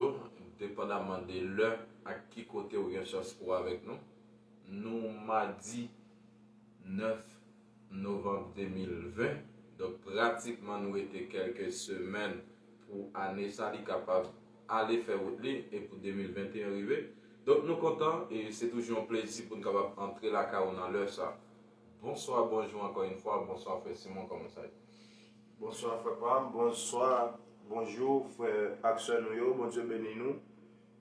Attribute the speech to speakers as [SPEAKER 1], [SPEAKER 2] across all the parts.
[SPEAKER 1] yo, depandamman de lè ak ki kote ou gen chans pou avèk nou. Nou madi 9 novanm 2020, donk pratikman nou rete kèlke semèn pou ane sa li kapab ale fè wout li e pou 2021 rive. Donk nou kontan e se toujou yon plezi pou n kapab antre lakay ou nan lè sa. Bonswa bonjou ankò yn fwa bonswa frè simon kòman sa ye. Bonswa frè
[SPEAKER 2] pam bonswa bonjou frè ak sè nou yo bondye beni nou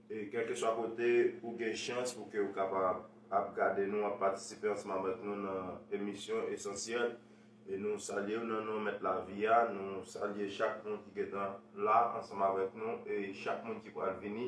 [SPEAKER 2] e kèlkeswa kote ou gen chans pou ke ou kapab ap gade nou ap patisipe ansanm avèk nou nan emisyon esansyèl e nou salyew nan non mèt lavi a nou salye chak moun ki gentan la ansanm avèk nou e chak moun ki pral vini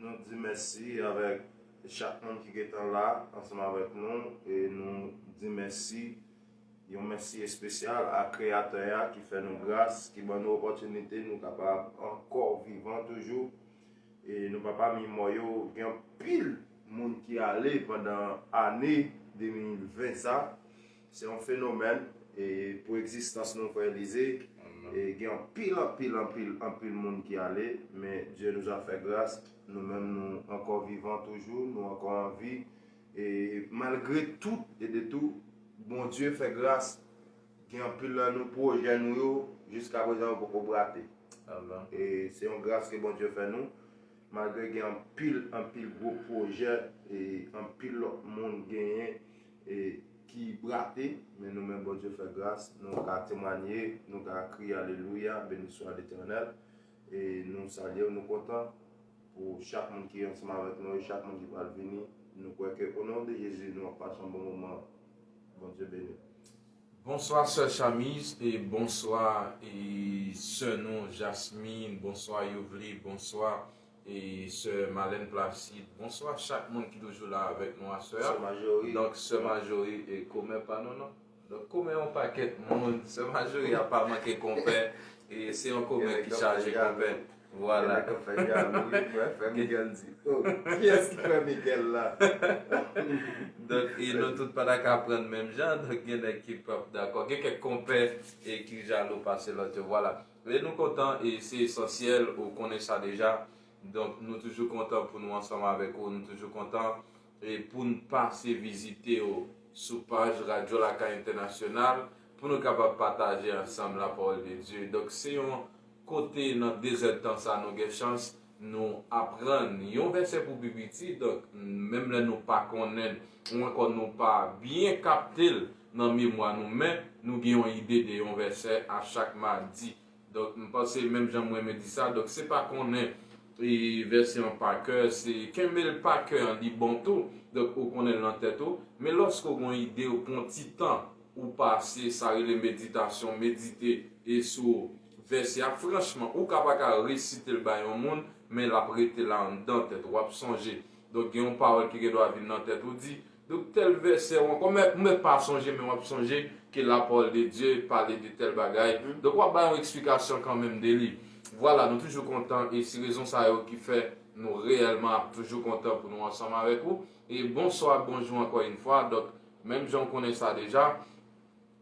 [SPEAKER 2] Nou di mèsi avèk chak moun ki gentan la ansanm avèk nou e nou di mèsi, yon mèsi espesyal a Kreyatè a ki fè nou gras, ki ban nou opòtinite nou kapab ankò vivan toujou e nou pa pami mò yo. Gen anpil moun ki ale pandan ane 2020 sa. Se yon fenomèn e pou egzistans nou frè Elize e gen anpil anpil anpil anpil moun ki ale men Dye nou a fè gras nou menm nou ankò vivan toujou nou ankò anvi e malgre tout e de tou Bondye fè gras gen anpil nan nou pwojè nou yo jiska prezan yo poko brate e se yon gras ke Bondye fè nou malgre gen anpil anpil gwo pwojè e anpil lòt moun genyen e ki brate men nou menm Bondye fè gras nou ka temwanye nou ka kriye alelouya beniswa letènèl e nou salyew nou kontan pou chak moun ki ansanm avèk nou e chak moun ki pral vini nou kwè ke o non de Jezi nou ap pase yon bon moman Bondye beniw. Bonswa
[SPEAKER 1] sè Chamise e bonswa e sè nou Jasmine bonswa Youvely bonswa E sè Malène Placide. Bonswa chak moun ki toujou la avèk nou aswè a. Sè Majori. Donk sè Majori e komè pa nou non. Donk komè yon pakèt moun. Sè Majori a pa manke konpè. E se yon komè ki chaje konpè. Vwala. Gen nèg kap fè jalou wi
[SPEAKER 2] pou FR Miguel di. Oh kiyès ki frè Miguel la?
[SPEAKER 1] Donk e nou tout pa ta ka aprann menm jan. Donk gen nèg ki pap dakò. Gen kèk konpè e ki jalou pase lòt yo. Vwala. Lè nou kontan e se esansyèl ou konnen sa deja. Donk nou toujou kontan pou nou ansanm avèk ou, nou toujou kontan e poun pase vizite ou sou paj Radyo Lakay Entènasyonal pou nou kapab pataje ansanm lapawòl de Dye. Donk se yon kote nan dezèdtan sa nou gen chans Nou aprann yon vèsè pou pi piti, donk menm lè nou pa konnen l ou ankò nou pa byen kapte l nan memwa nou men nou gen yon ide de yon vèsè a chak madi. Donk m panse menm jan m renmen di sa, donk se pa konnen vèsè an pa kè, se kenbe l pa kè an li bon tou, donk ou konnen l nan tèt ou, men lòske ou gen yon ide ou pran yon ti tan ou pase sa rele meditasyon, medite, e sou vèsè a, franchman, ou ka pa ka resite l bay yon moun, men l ap rete la anndan tèt ou, w ap sonje. Donk gen yon pawòl ki gen dwa vin nan tèt ou, di, donk tèl vèsè ou ankò, mèt, mèt pa sonje men w ap sonje ke la pawòl de Dye pale de tèl bagay, donk w ap bay yon eksplikasyon kanmenm de li. Vwala, nou toujou kontan, e si rezon sa yo ki fè nou reyèlman ap toujou kontan pou nou ansanm avèk ou. E bonswa ak bonjou ankò yn fwa, donk. Menm jan ou konnen sa deja,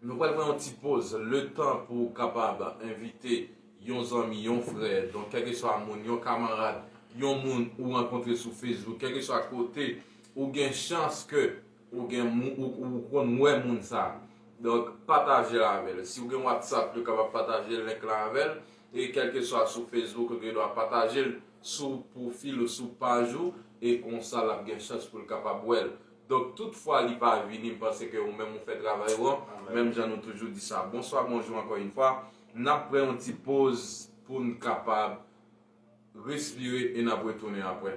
[SPEAKER 1] nou pral pran yon ti poz letan pou ou kapab envite yon zanmi, yon frè, donk kèlkeswa moun, yon kamarad, yon moun ou rankontre sou Facebook, kèlkeswa kote ou gen chans ke ou gen moun ou konn wè moun sa. Donk patajel avèl. Si ou gen WhatsApp yo kapab pataje link la avèl e kèlkeswa sou Facebook ou gen dwa patajel sou pwofil ou sou paj ou e konsa lap gen chans poul kapab wèl. Donk tout fwa li pa vini m panse ke ou menm ou fè travay ou an, menm jan nou toujou di sa. Bonswa bonjou ankò yn fwa, nap pran yon ti poz poun kapab respire e nap retounen aprè.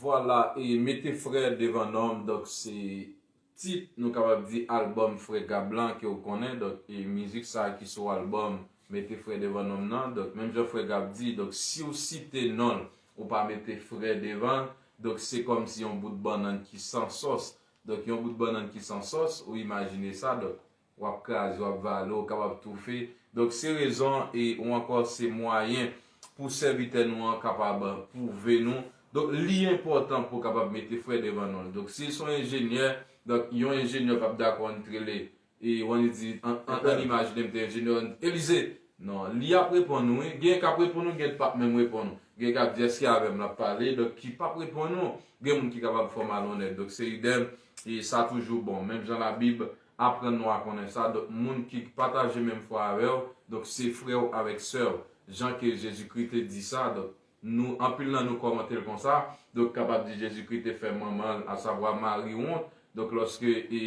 [SPEAKER 1] Vwala e mete frè devan nom donk se tit nou kapab di album frè Gab lan ke ou konnen donk e mizik sa ki sou album mete frè devan nom nan donk menm jan frè Gab di donk siw site nonl ou pa mete frè devanl donk se kòm si yon bout bannann ki san sòs donk yon bout bannann ki san sòs ou imajine sa donk W ap kraze, w ap vale, ou kapab toufe. Donk, se rezon e ou ankò se mwayen pou sèvitè nou an kapab pwouve nou. Donk, li enpòtan pou w kapab mete frè devan non l. Donk, si l se yon enjenyè, donk, yon enjenyè pap dakò n t rele e w an li di, an n imajine m te enjenyè, an n Elize! Non, li ap reponn ou wi. Genyen k ap reponn ou, genyen k pap menm reponn ou. Genyen k ap di, èske avè m l ap pale? Donk, ki pap reponn ou. Gen moun ki kapab fè w malonnèt. Donk, se idem, e sa toujou bon. Menm jan Labib. Aprann nou a konnen sa, donk moun ki k pataje menm fwa avè w, donk se frè w avèk sè w, jan ke Jezikri te di sa, donk nou, anpil nan nou kòmante l konsa, donk kapab di Jezikri te fè manman l, asavwa Mari wont, donk lòske e,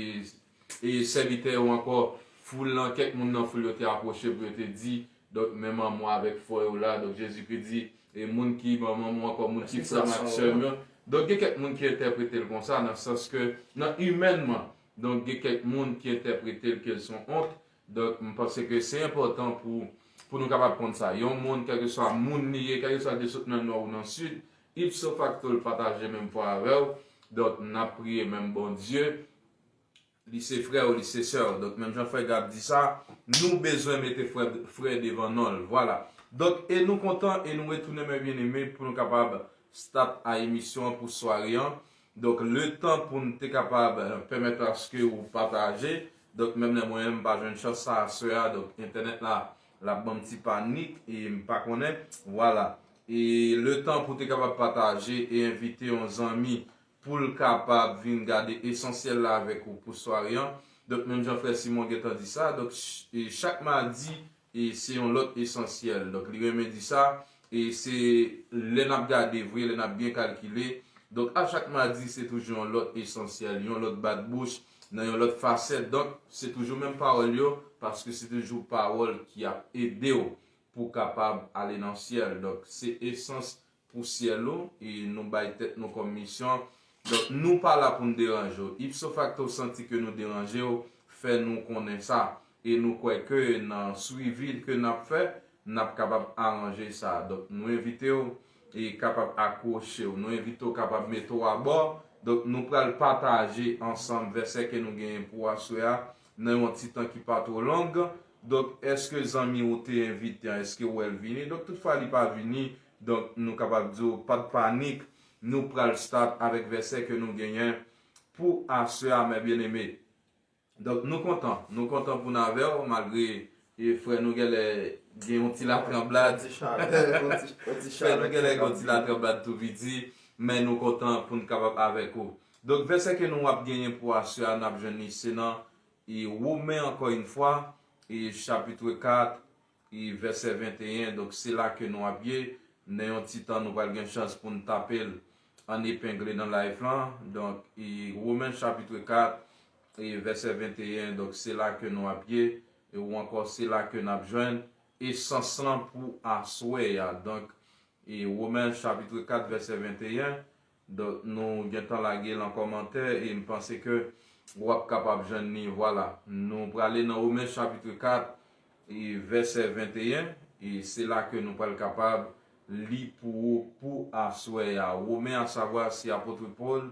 [SPEAKER 1] e sèvitè yo ankò, foul lan, kèk moun nan foul yo te apwoche pou yo te di, donk men manman w avèk frè w la, donk Jezikri di, e moun ki manman m ou ankò moun ki frè m ak sè m yo, donk gen kèk moun ki entèprete l konsa nan sans ke, nan imènman. Donk gen kèk moun ki entèprete l ke l son ont. Donk m panse ke se enpòtan pou pou nou kapab konn sa. Yon moun kèlkeswa moun li ye, kèlkeswa l te sot nan nò ou nan sid, ipso facto l pataje menm fwa avè w. Donk n ap priye menm Bondye. Li se frè w, li se sè w. Donk menm jan frè Gab di sa, nou bezwen mete frè frè devan non l. Vwala. Donk e nou kontan e nou retounen mè byeneme pou nou kapab start a emisyon an pou sware an. Donk letan poun te kapab pèmèt ou aske ou pataje, donk menm lè mwen menm pa jwenn chans sa a sè a donk entènèt la lap banm ti panik e mpa konnen vwala e letan pou te kapab pataje e envite yon zanmi poul kapab vin gade esansyèl la avèk ou pou sware an donk menm jan frè Simon gentan di sa donk chak madi E se yon lòt esansyèl. Donk li renmen di sa. E se lè n ap gade vre, lè n ap byen kalkile. Donk a chak madi se toujou yon lòt esansyèl, yon lòt bat bouch, nan yon lòt fasèt. Donk se toujou menm pawòl yo, paske se toujou pawòl ki ap ede w pou w kapab ale nan syèl. Donk se esans pou syèl ou, e nou bay tèt nou kòm misyon, donk nou pa la pou n deranje w. Ipso facto santi ke nou deranje w, fè nou konnen sa, e nou kwè ke nan swivi ke n ap fè, n ap kapab aranje sa. Donk nou envite w e kapab akwoche w, nou envite w kapab mete w abò, donk nou pral pataje ansanm vèsè ke nou genyen pou aswè a, nan yon ti tan ki pa two long, donk eske zanmi ou te envite an eske ou wè l vini, donk tout fwa li pa vini, donk nou kapab di w pat panik, nou pral start avèk vèsè ke nou genyen pou aswè a mè byeneme. Donk nou kontan, nou kontan pou n avè w malgre E frè nou gèlè gen yon ti latranblad frè nou gèlè gen yon ti latranblad tou piti men nou kontan poun kapab avèk ou donk vèsè ke nou ap genyen pou aswè a nap jwenn li se nan e women ankò yn fwa e chapitre 4 e vèsè 21 donk se la ke nou ap ye nan yon ti tan nou pral gen chans poun tapel an epengle nan life lan donk e women chapitre 4 E vèsè 21, donk se la ke nou ap ye, ou ankò se la ke n ap jwenn esans lan pou aswè a. Donk, e Women chapitre 4 vèsè 21, donk nou gen tan lage l an kòmantè e m panse ke ou ap kapab jwenn li, vwala. Nou prale nan Women chapitre 4 e vèsè 21, e se la ke nou pral kapab li pou ou pou aswè a. Women asavwa se apotre Paul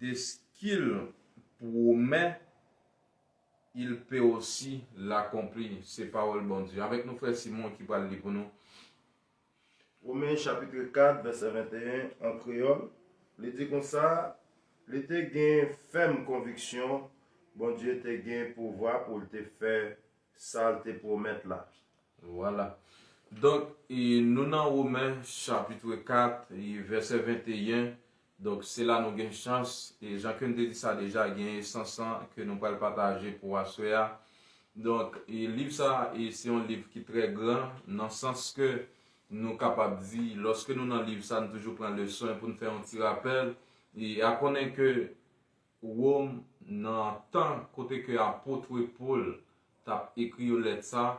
[SPEAKER 1] De ce qu'il promet, il peut aussi l'accomplir se pawòl Bondye. Avèk nou frè Simon ki pral li pou nou.
[SPEAKER 2] Romains chapitre 4 verset 21 an kreyòl, li di konsa, Li te gen fèm konviksyon Bondye te gen pouvwa pou l te fè sa l te pwomèt la. Vwala.
[SPEAKER 1] Donk, nou nan Romains chapitre 4 vèsè 21, Donk se la nou gen chans e jan ke m te di sa deja gen esans lan ke nou pral pataje pou aswè a. Donk e liv sa e se yon liv ki trè gran nan sans ke nou kapab di lòske nou nan liv sa n toujou pran leson e pou n fè yon ti rapèl e a konnen ke Wòm, nan tan kote ke apot we Pol tap ekri yo lèt sa,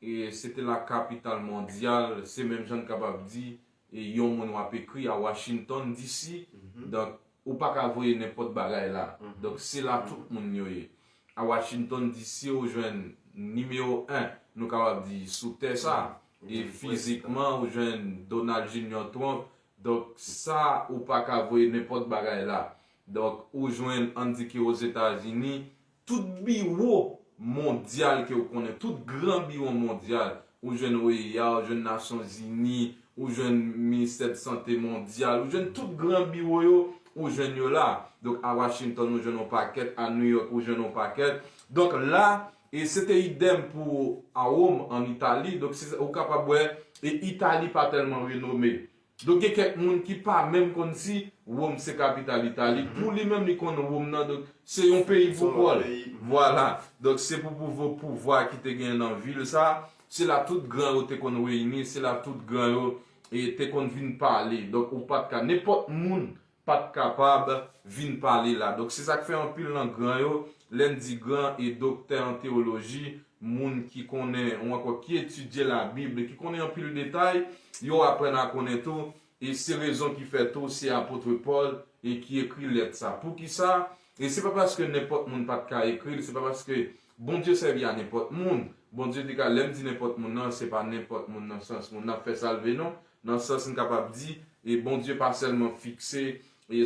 [SPEAKER 1] e se te la kapital mondyal, se menm jan n kapab di e yon moun w ap ekri a Washington DC, donk ou pa ka voye nenpòt bagay la, donk se la tout moun yo ye. A Washington DC ou jwenn nimewo 1, nou kapab di, sou tè sa, e fizikman ou jwenn Donald Junior Trump, donk sa ou pa ka voye nenpòt bagay la. Donk, ou jwenn, ann di ke Ozetazini, tout biwo mondyal ke ou konnen, tout gran biwo mondyal, ou jwenn OEA, ou jwenn Nasyon Zini, ou jwenn Ministè de Sante Mondyal, ou jwenn tout gran biwo yo, ou jwenn yo la. Donk, a Washington ou jwenn yon pakèt, a New York ou jwenn yon pakèt. Donk, la, e se te idem pou a Rome, ann Itali. Donk, se sa, ou kapab wè, e Itali pa tèlman renome. Donk gen kèk moun ki pa menm konn si Wom se kapital Itali. Pou li menm li konn Wom nan donk se yon peyi pou kò l. Vwala. Donk se pou pouvo pouvwa ki te gen nan vil sa. Se la tout gran yo te konn reyini, se la tout gran yo te konn vin pale. Donk ou pa t ka nenpòt moun pat kapab vin pale la donk se sak fè anpil nan gran yo lèn di gran e doktè an teoloji moun ki konnen ou ankò ki etidye la bible ki konnen anpil detay yo aprann a konnen tou e se rezon ki fè tou se apotre Paul e ki ekri lèt sa poukisa e se pa paske nenpòt moun pat ka ekril se pa paske Bondye sèvi a nenpòt moun Bondye te ka lèm di nenpòt moun nan se pa nenpòt moun nan sans moun nap fè salve non Nan sans n kapab di, Bondye pa sèlman fikse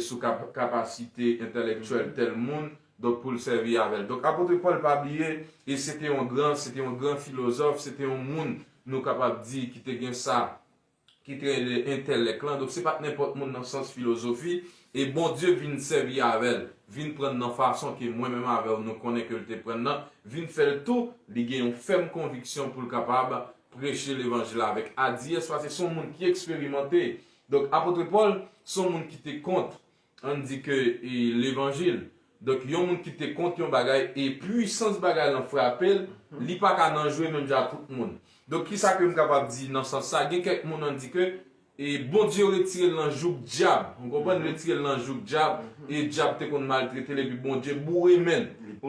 [SPEAKER 1] sou kapasite entèlèktyèl tèl moun, donk pou l sèvi avè l. Donk Apotre Pòl pa bliye se te yon gran, se te yon gran filozòf, se te yon moun nou kapab di ki te gen sa ki te rele entèlèk lan, donk se pa t nenpòt moun nan sans filozofi, e Bondye vin sèvi avè l, vin pran l nan fason ke mwen menm avè w nou konnen ke l te pran l nan, vin fè l tou li gen yon fèm konviksyon pou l kapab preche levanjil la avèk adiyès paske son moun ki eksperimante. Donk apotre Pòl son moun ki te kont ann di ke levanjil. Donk yon moun ki te kont yon bagay e pwisans bagay lan frape l, li pa ka nan jwe menm jan ak tout moun. Donk kisa ke m kapab di nan sans sa, gen kèk moun ann di ke, E Bondye retirel nan jouk dyab ou konprann retirel nan jouk dyab e dyab te konn maltretel epi Bondye boure menl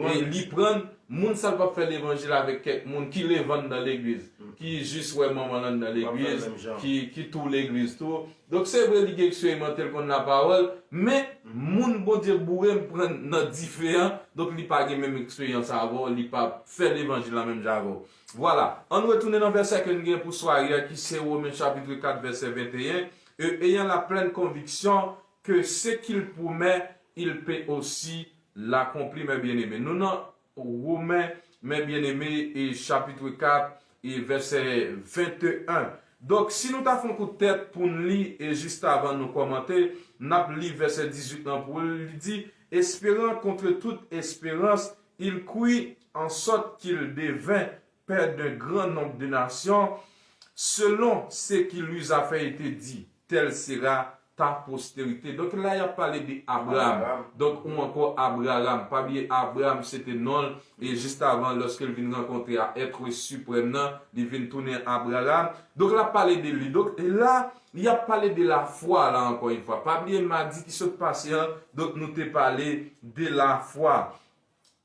[SPEAKER 1] e li prann moun sal pap fè levanjil avèk kèk moun ki levann nan legliz ki jis wè manmanl anndan legliz ki tou legliz tou donk se vre li gen eksperimante l konn la pawòl men moun Bondye boure m prann nan dife an donk li pa gen menm eksperyans avèw li pap fè levanjil la menm jan avèw. Vwala, ann retounen nan vèsè ke n gen pou sware a ki se Women chapitre 4 vèsè 21, E eyan la plèn konviksyon ke se ki l pwomè, il pe osi lakonpli, mè byeneme. Nou nan Women, mè byeneme, e chapitre 4 e vèsè 21. Donk, si nou ta fon kout tèt pou n li e jistavan nou kòmante, n ap li vèsè 18 lan pou l, li di, Esperan kontre tout esperans, il kwi ansòt ki l deven pè d'un gran nonb de nasyon, selon se ki Luzafèye te di, tèl sera ta posterite. Donk la y ap pale de Abraam, donk ou ankò Abraram, pa bliye Abraam se te non l, e jistavan lòske l vin rankontre a Ètre Siprèm nan, li vin tounen Abraram. Donk l ap pale de li. Donk la, y ap pale de lafwa la ankò yn fwa. Pa bliye madi ki sot pase an, donk nou te pale de lafwa.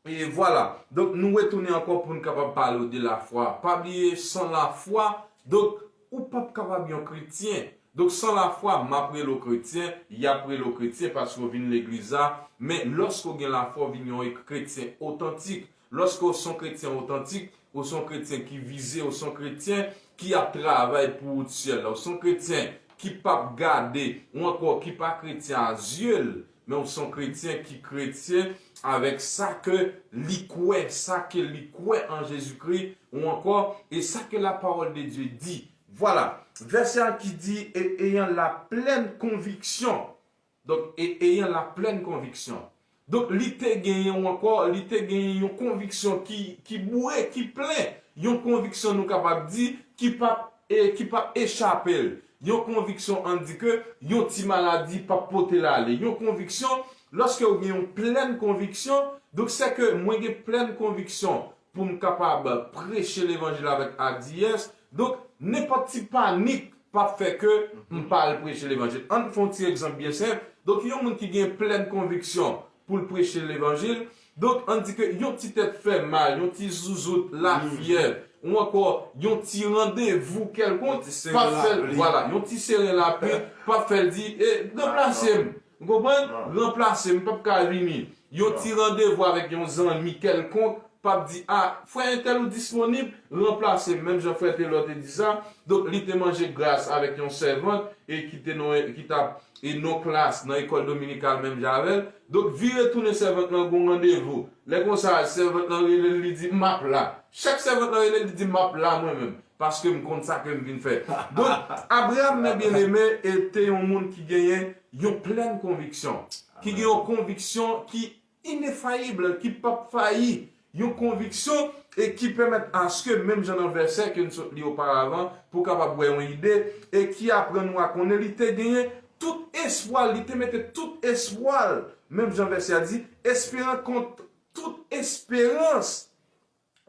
[SPEAKER 1] E vwala, donk nou retounen ankò pou n kapab pale w de lafwa. Pa bliye, san lafwa, donk, ou pap kapab yon kretyen. Donk, san lafwa, m ap rele w kretyen, y ap rele w kretyen paske w vin legliz la, men lòske w gen lafwa w vin yon kretyen otantik. Lòske w se yon kretyen otantik, ou se yon kretyen ki vize, ou se yon kretyen ki ap travay pou wout syèl la, ou se yon kretyen ki pap gade, ou ankò ki pa kretyen a zye l, Men w son kretyen ki kretyen avèk sa ke li kwè, sa ke li kwè an Jezikri, ou ankò, e sa ke lapawòl de Dye di. Vwala. Vèsè a ki di, e eyan la plèn konviksyon. Donk, e eyan la plèn konviksyon. Donk, li te genyen, ou ankò, li te genyen yon konviksyon ki, ki boure, ki plen. Yon konviksyon nou kapab di, ki pap, e, ki pap echape l. Yon konviksyon an di ke yon ti maladi pap pote l ale. Yon konviksyon, lòske ou gen yon plèn konviksyon, donk se ke mwen gen plèn konviksyon pou m kapab preche levanjil avèk adiyès, donk nenpòt ti panik pap fè ke m pa al preche levanjil. Ann fè yon ti egzanp byen senp, donk yon moun ki gen plèn konviksyon pou l preche levanjil, Donk, ann di ke yon ti tèt fè mal, yon ti zouzout, lafyè, ou ankò yon ti randevou kèlkonk pa fè l, vwala, yon ti seren lapli pa fè l di, e, ranplase m, ou konprann, ranplase m, m p ap ka vini. Yon ti randevou avèk yon zanmi kèlkonk p ap di, a, frè entèl ou disponib, ranplase m, menm jan frè Telor te di sa, donk li te manje gras avèk yon sèvant e ki te nan, ki t ap e non klas nan ekòl dominikal menm jan avè l, Donk vire tounen sèvant lan gon randevou. Lè konsa sèvant lan rele l li di map la. Chak sèvant lan rele l li di map la mwen menm. Paske m konn sa ke m vin fè. Donk Abraham mè byeneme e te yon moun ki genyen yon plèn konviksyon. Ki gen yon konviksyon ki inefayibl, ki pap fayi. Yon konviksyon e ki pèmèt aske menm jan nan vèsè ke n sot li oparavan pou w kapab wè yon ide e ki aprann nou a konnen li te genyen tout espwa l, li te mete tout espwa l, menm jan vèsè a di, esperan kont tout esperans,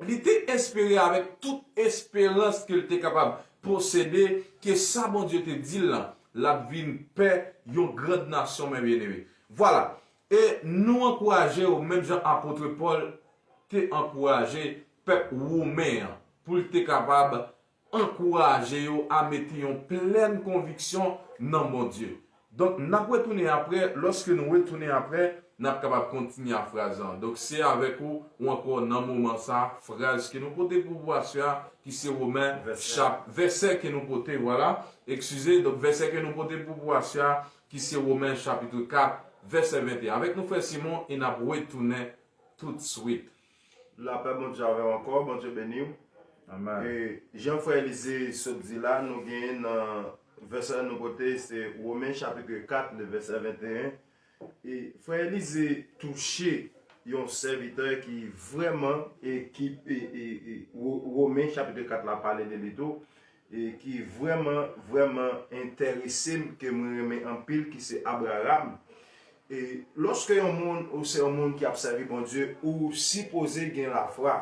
[SPEAKER 1] li te espere avèk tout esperans ke l te kapab posede ke sa Bondye te di l lan, l ap vin pè yon grand nasyon men byeneme. Vwala, E nou ankouraje w menm jan apotre Pòl te ankouraje pèp women an, pou l te kapab ankouraje yo a mete yon plèn konviksyon nan Bondye. Donk, n ap retounen apre, lòske nou retounen apre, n ap kapab kontinye a fraz lan. Donk, se avèk ou ou ankò nan moman sa a, fraz ke nou pote pou pou aswè a, ki se Women, chap. Vèsè ke nou pote, vwala, ekskize, donk vèsè ke nou pote pou pou aswè a, ki se Women chapitre 4 vèsè 21 avèk nou frè Simon e nap retounen tout swit. Lapè
[SPEAKER 2] Bondye avèw ankò Bondye beniw e
[SPEAKER 1] jan frè
[SPEAKER 2] Elize sot di la nou gen nan vèsè nou pote se Women chapitre 4 le vèsè 21 e frè Elize touche yon sèvitè ki vrèman e ki e e Women chapitre 4 la pale de li tou e ki vrèman vrèman enterese m ke mwen renmen anpil ki se Abraram e lòske yon moun ou se yon moun ki ap sèvi Bondye ou sipoze gen lafwa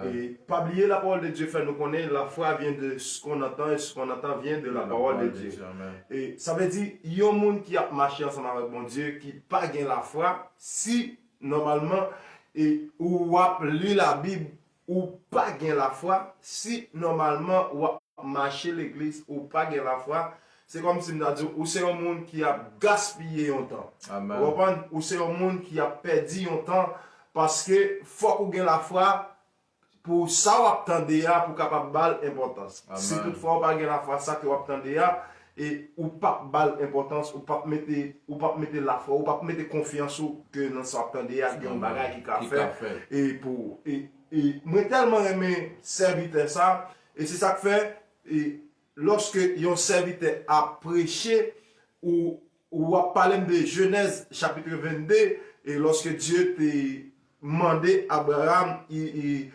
[SPEAKER 2] e
[SPEAKER 1] pa bliye
[SPEAKER 2] lapawòl de Dye fè nou konnen lafwa vyen de s kon nantan e s kon nantan vyen de lapawòl de Dye e sa vle
[SPEAKER 1] di
[SPEAKER 2] yon moun ki ap mache ansanm avèk Bondye ki pa gen lafwa si nòmalman e ou ap li labib Ou pa gen lafwa, si nòmalman w ap mache legliz ou pa gen lafwa, se kòm si m ta di w ou se yon moun ki ap gaspiye yon tan. Ou konprann? Ou
[SPEAKER 1] se yon
[SPEAKER 2] moun ki ap pèdi yon tan paske fòk ou gen lafwa pou sa w ap tande a pou w kapab ba l enpòtans. Si toutfwa ou pa
[SPEAKER 1] gen lafwa
[SPEAKER 2] sa ke w ap tande a, e ou pap bal enpòtans, ou pap mete ou pap mete lafwa ou, ou pap mete konfyans ou ke nan sa wap tande a gen yon bagay ki ka fèt e pou ou e e mwen tèlman renmen sèvitè sa e se sak fè e lòske yon sèvitè ap preche ou Ou ap pale m de Jenèz chapitre 22, e lòske Dye te mande Abraram, e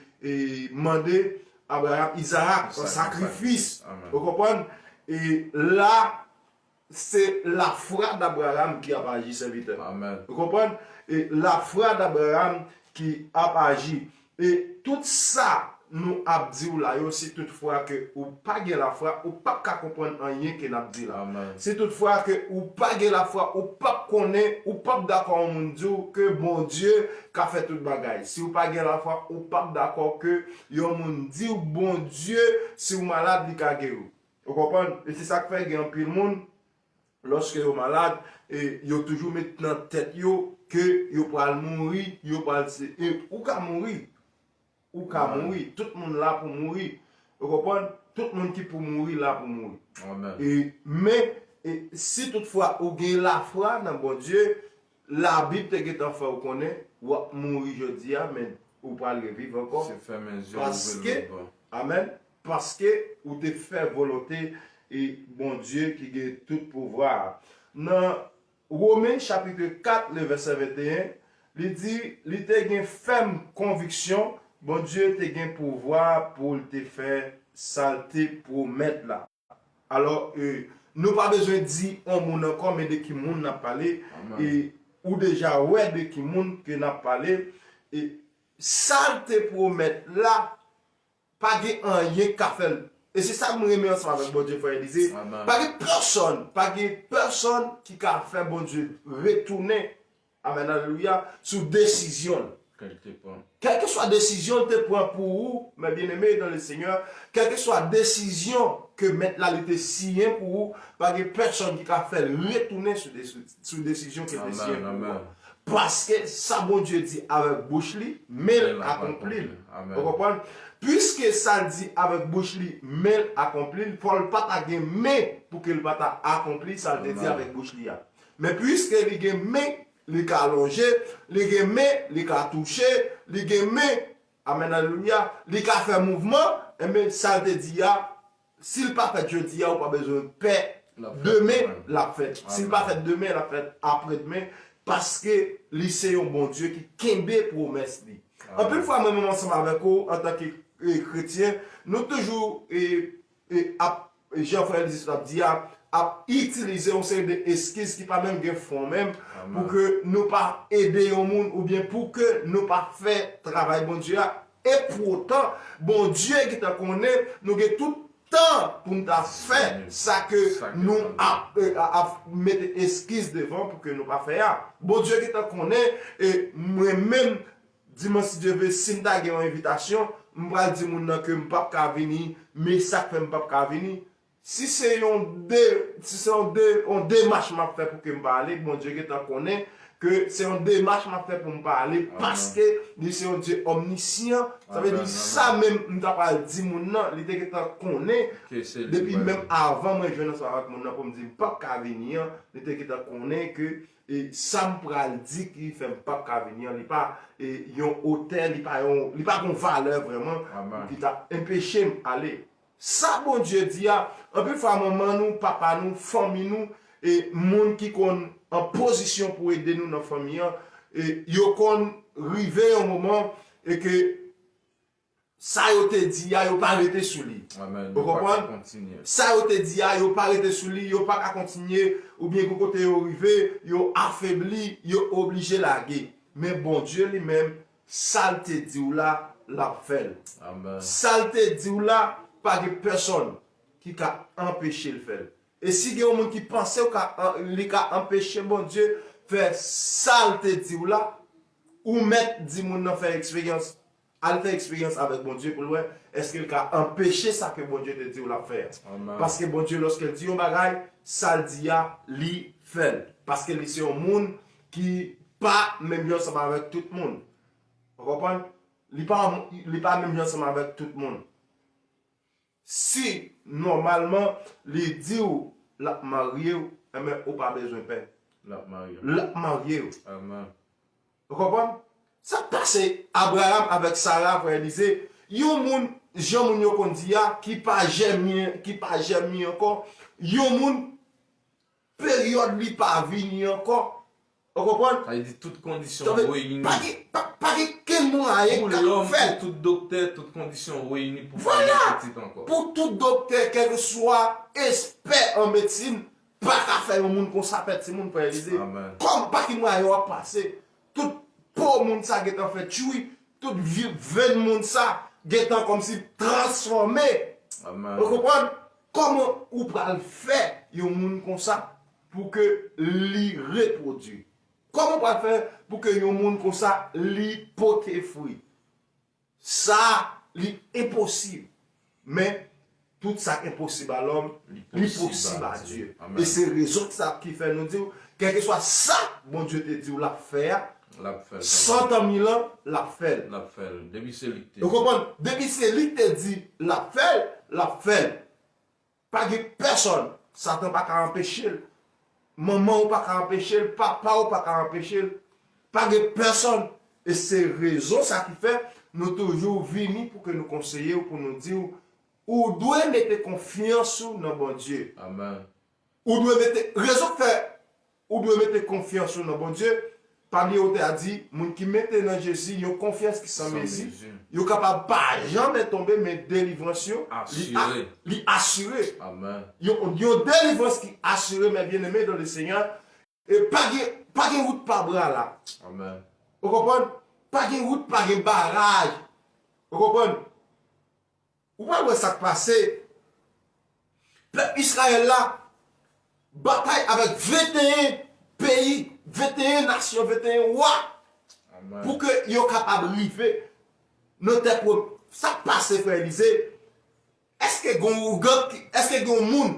[SPEAKER 2] mande Abraram Izarak an sakrifis, ou konprann? E la, se lafwa d'Abraram ki ap aji, sèvitè. Ou konprann?
[SPEAKER 1] E
[SPEAKER 2] lafwa d'Abraram ki ap aji. E tout sa nou ap di w la yo si tout fwa ke ou pa gen lafwa ou pap ka konprann anyen ke nap di la. Si tout fwa
[SPEAKER 1] ke
[SPEAKER 2] ou pa gen lafwa ou pap konnen ou pap dakò yon moun di w ke Bondye ka fè tout bagay. Si w pa gen lafwa ou pap dakò ke yon moun di w Bondye si w malad li ka geri w. Ou konprann? E se sak fè gen anpil moun Lòske yo malad, yo toujou met nan tèt yo ke yo pral mouri, yo pral se, e ou ka mouri. Ou ka mouri. Tout moun la pou mouri. Ou konprann? Tout moun ki pou mouri la pou mouri. Amen. E,
[SPEAKER 1] men,
[SPEAKER 2] si tout fwa ou gen lafwa nan Bondye, Labib te gentan fè ou konnen ou ap mouri jodi a men ou pral reviv ankò paske amen paske ou te fè volonte e Bondye ki gen tout pouvwa a. Nan Women chapitre 4 le vèsè 21 li di li te gen fèm konviksyon Bondye te gen pouvwa pou l te fè sa l te pwomèt la. Alò, nou pa bezwen di on moun ankò men de ki moun n ap pale, e ou deja wè de ki moun ke n ap pale, e sa l te pwomèt la, pa gen anyen k ka fè l. E se sa m renmen ansanm avèk Bondye, Frè Elize, pa gen pèsonn, pa gen pèsonn ki ka fè Bondye retounen Amen alelouya sou desizyonl kelkeswa desizyonl te pran pou ou mes bien aime dans le seigneur kelkeswa desizyon ke mèt la li te siyen pou ou pa gen pèsòn ki ka fèl retounen sou desizyon kel te siyen pou ou an paske sa Bondye di avèk bouch li menl akonplil ou konprann puiske sal di avèk bouch li menl akonplil fòl pata gen men poukel pata akonpli sal te di avèk bouch li a Men puiske li gen men, li ka lonje, li gen men, li ka touche, li gen men, amen alelouya, li ka fè mouvman, enben sa l te di a, si l pa fèt jodi a ou pa bezwen pè, demen l ap fèt, si l pa fèt demen l ap fèt aprèdmen, paske li se yon Bondye ki kenbe pwomès li. Anpil fwa mwen menm ansanm avèk ou antanke kretyen, nou toujou ap, jan frè l di sot ap di a, ap itilize yon seri de eskiz ki pa menm gen fon menm, pou ke nou pa ede yon moun oubyen pou ke nou pa fè travay Bondye a, e poutan Bondye gentan konnen nou gen tout tan pou n ta fè sa ke nou ap mete eskiz devan pou ke nou pa fè a. Bondye gentan konnen mwen menm Dimanch si Dye vle si m ta gen yon envitasyon m pral di moun nan ke m pap ka vini men sa k fè m pap ka vini si se yon de si se yon de yon demach m ap fè pou ke m pa ale Bondye gentan konnen ke se yon demach m ap fè pou m pa ale paske li se yon Dye òmnisyan sa vle di sa menm m ta pral di moun nan li te gentan konnen depi menm avan mwen jwenn ansanm avèk moun nan pou m di m pap ka vini an li te gentan konnen ke E sam pral di ki fèm pap ka vini an li pa e yon otè li pa yon li pa gon valè vrèman pou ki ta enpechem ale sa Bondye di a anpil fwa manman nou papa nou fanmi nou e moun ki konn an pozisyon pou ede nou nan fanmi an e yo konn rive yon moman e ke Sa yo te di a, yo pa rete sou li. Ou konprann? Sa yo te di a, yo pa rete sou li, yo pa ka kontinye, oubyen gen kote yo rive, yo afebli, yo oblije lage. Men Bondye li menm, sa l te di w la, l ap fè l. Sa l te di w la, pa gen pèsonn ki ka anpeche l fè l. E si gen yon moun ki panse ou ka, li ka anpeche Bondye fè sa l te di w la, ou mèt di moun nan fè eksperyans Al fè eksperyans avèk Bondye pou l wè èske l ka anpeche sa ke Bondye te di w l ap fè a. Paske Bondye lòske l di yon bagay, sa l di a li fè l. Paske li se yon moun ki pa menm jan ansanm avèk tout moun. Ou konprann? Li pa menm jan ansanm avèk tout moun. Si nòmalman li diw lap maryew enben ou pa bezwen pè. Lap maryew. Lap maryew. Amen. Ou konprann? Sak pase Abraham avèk Sarah frè Elize yon moun jan moun yo konn di a ki pa jèmi ki pa jèmi ankò yon moun Peryòd li pa vini ankò. Ou konprann? Sa vle di tout kondisyon
[SPEAKER 1] Sa vle reyini. pa gen, pa, pa gen
[SPEAKER 2] kenn mwayen Pou k ap lòm, fè l. pou tout
[SPEAKER 1] doktè, tout kondisyon reyini pou fè yon pitit ankò. Pou
[SPEAKER 2] tout
[SPEAKER 1] doktè,
[SPEAKER 2] kèlkeswa espè an medsin, pa ka fè yon moun konsa fè timoun, Frè Elize. Amen. Kòm pa ki mwayen w ap pase, tout po moun sa gentan fè tchwi, tout vi, venn moun sa gentan kòmsi transfòme. Amen. Ou konprann? Koman ou pral fè yon moun konsa pou ke li repwodwi? Koman ou pral fè pou ke yon moun konsa li pote fwi? Sa li enposib, men tout sa k enposib a lòm, li posib a Dye. E se rezon ki fè nou di w, kèlkeswa sa Bondye te di w l ap fè a, Lap fèl kanmenm. San tan mil an lap fèl. Lap fèl depi se lik
[SPEAKER 1] te di. Ou konprann depi se
[SPEAKER 2] lik te di lap fèl lap fèl pa gen pèsòn satan paka anpechel manmanw paka anpechel papaw paka anpechel pa gen pèsòn e se rezon sa ki fè nou toujou vini pou ke nou konseyew pou nou diw ou dwe mete konfyans ou nan Bondye. Amen.
[SPEAKER 1] Ou dwe mete,
[SPEAKER 2] rezon k fè ou dwe mete konfyans ou nan Bondye, pa bliye otè a di, moun ki mete nan Jezi yon konfyans ki san mezi, yo kapab pa janmen tonbe men delivrans yo li asire.
[SPEAKER 1] Yon
[SPEAKER 2] delivrans ki asire mes bien aimés dans le Seigneur e pa gen pa gen wout pa bra la. Ou
[SPEAKER 1] konprann?
[SPEAKER 2] Pa gen wout pa gen baraj. Ou konprann? Ou pral wè sak pase. Pèp Israël la batay avèk 21 peyi, 21 nasyon, 21 wa pou ke yo kapab rive nan tè pwom. Sak pase frè Elysée? Eske gen yon ougan, eske gen yon moun.